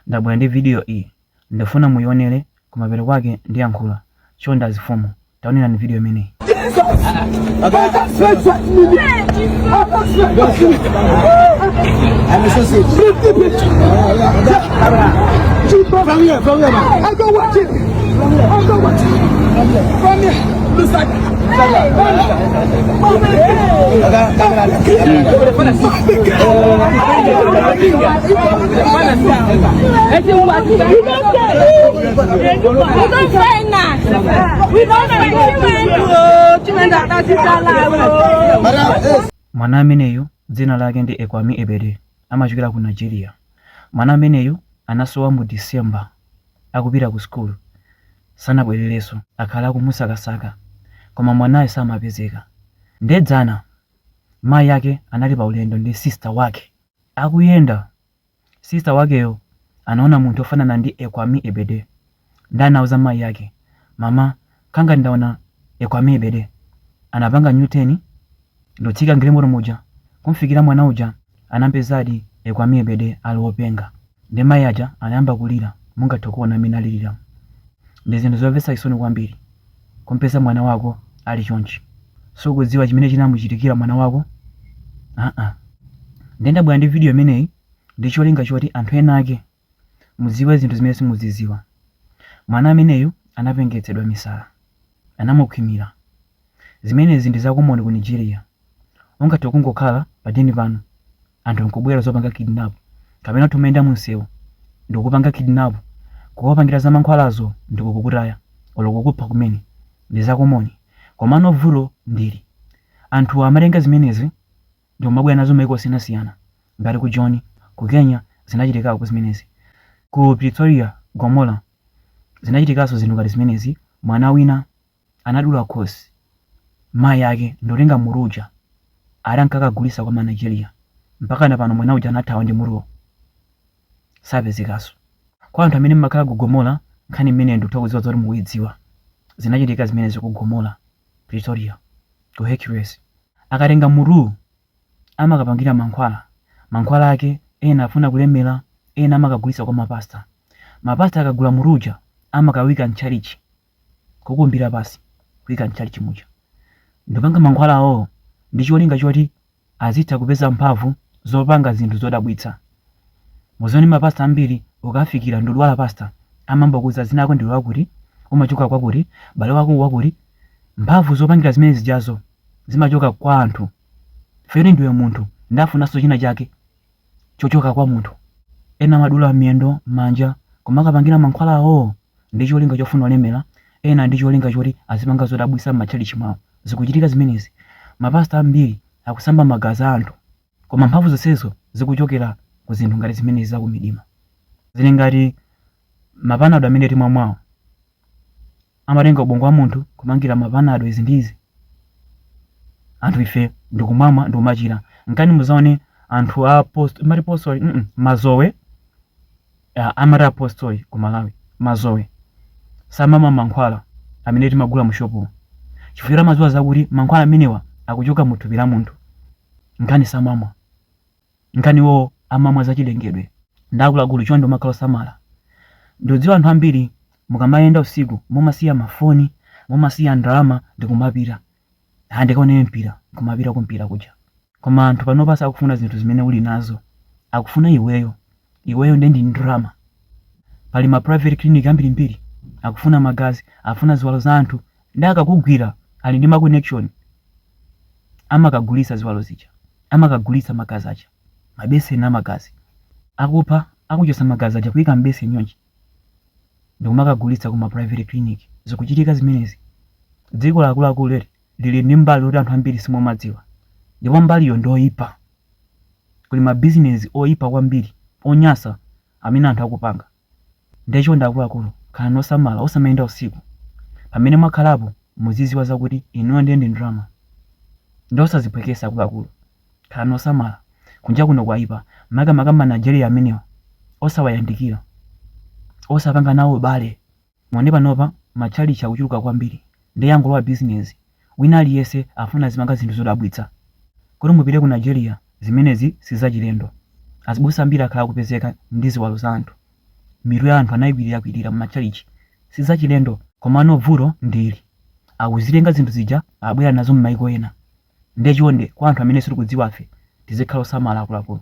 Ndabwera ndi video iyi ndifuna muyionere kumapeto kwake ndiyankhula chonde azifumu taonerani video imeneyi. Mwana ameneyu dzina lake ndi Ekwami Ebede amachokera ku Nigeria. Mwana ameneyu anasowa mu December akupita ku school sanabwererenso akhala akumusakasaka koma mwanayo samapezeka. Nde dzana mayi ake anali pa ulendo ndi sister wake Akuyenda, sister wakeyo anaona munthu ofanana ndi Ekwame Ebede nde anauza mayi ake, mama nkhala ngati ndaona Ekwame Ebede. Anapanga new turn ndotsika mgalimoto muja kumfikira mwana uja anampezadi Ekwame Ebede ali openga nde mayi aja anayamba kulira mungathe kuona mmene aliliramu. Ndi zinthu zomvetsa chisoni kwambiri. kumpeza mwana wako ali chonchi sukudziwa chimene chinamuchitikira mwana wako aa ndiye ndabwera ndi video imeneyi ndi cholinga choti anthu ena ake mudziwe zinthu zimene simuzidziwa mwana ameneyu anapengetsedwa misala anamukhwimira zimenezi ndi zakomoni ku nigeria ungathe kungokhala padeni pano anthu nkubwera zopanga kidnap kapena tumayenda munsewu ndikupanga kidnap kuwapangira za mankhwalazo ndikukutaya olo kukupha kumene ndi zakomoni komano vuto ndi ili anthu amatenga zimenezi ndikumabwera nazo maiko osiyanasiyana ngati ku joni ku kenya zinachitikako zimenezi ku pretoria gomola zinachitikanso zinthu ngati zimenezi mwana wina anadula khosi mayi ake ndotenga mutu uja ati ankakagulisa kwa ma Nigeria mpakana pano mwana uja anathawa ndi mutuwo sapezekaso. Kwa anthu amene mmakhala ku Gomora nkhani imeneyo ndikutha kuziwa zoti mukuyidziwa zinachitika zimenezo ku Gomora, Pretoria, ku Hercules. Akatenga mutuwu amakapangira mankhwala, mankhwala ake ena afuna kulemera ena amakagulisa kwa ma pastor, ma pastor akagula mutu uja amakawuyika mtchalitchi kukumbira pansi kuika m'tchalitchi muja ndikupanga mankhwala awowo ndi cholinga choti azitha kupeza mphamvu zopanga zinthu zodabwitsa muzione mapasta ambiri ukafikira ndudwala pasta amangokuuza dzina lako ndiwe wakuti umachoka kwakuti bale wako wakuti mphamvu zopangira zimene zijazo zimachoka kwa anthu feri ndiwe munthu ndafunanso china chake chochoka kwa munthu. Ena amadula miyendo, manja, kumakakapangira mankhwala awowo ndi cholinga chofuna kulemera, ena ndi cholinga choti azipanga zodabwitsa m'matchalitchi mwawo. Zikuchitika zimenezi. Mapasita ambiri akusamba magazi a anthu. Koma mphamvu zonsezo zikuchokera ku zinthu ngati zimenezi za kumidima. Zili ngati mapanado amene timwamwawo. amatenga ubongo wa munthu kumangira mapanado izi ndi izi anthu ife ndikumamwa ndikumachira nkani muzaone anthu a post amati apostoli mm -mm, mazowe ah, amati apostoli ku malawi mazowe samamwa mankhwala amene timagula mushopu chifukwa amadziwa zakuti mankhwala amenewa akuchoka mu thupi la munthu nkani samamwa Nkani iwo amamwa zachilengedwe nde akuluakulu chonde kumakhala osamala ndikudziwa anthu ambiri mukamayenda usiku mumasiya ma foni mumasiya ndalama ndikumapita ah ndikaonere mpira kumapita ku mpira kuja koma anthu panopa sakufuna zinthu zimene uli nazo akufuna iweyo iweyo ndiye ndi ndalama pali ma private clinic ambirimbiri akufuna magazi akufuna ziwalo za anthu Nde akakugwira ali ndi ma connection amakagulitsa ziwalo zija, amakagulitsa magazi aja, mabeseni amagazi. Akupha akuchotsa magazi aja kuika m'beseni chonchi ndikumakagulitsa ku ma private clinic. Zikuchitika zimenezi. Dziko ili akuluakulu eti lili ndi mbali yoti anthu ambiri simumadziwa ndipo mbaliyo ndi yoipa. Kuli mabizinezi oipa kwambiri, onyasa amene anthu akupanga. Ndiye chonde akuluakulu khalani osamala osamayenda usiku. Pamene mwakhalapo muziziwa zakuti inuyo ndiye ndi ndalama. Ndiye osaziphwekesa akuluakulu. Khalani osamala. Kunja kuno kwaipa makamaka ma Nigeria amenewa osawayandikira. Osapanga nawo ubale. Muone panopa ma tchalitchi akuchuluka kwambiri nde yangolowa business wina aliyese afuna azipanga zinthu zodabwitsa kuti mupite ku Nigeria zimenezi sizachilendo azibusa ambiri akhala akupezeka ndi ziwalo za anthu mitu ya anthu anayikwilirakwilira mma tchalitchi sizachilendo komano vuto ndi ili akuzitenga zinthu zija abwera nazo mmaiko ena nde chonde kwa anthu amene sitikudziwafe tizikhala osamala akuluakulu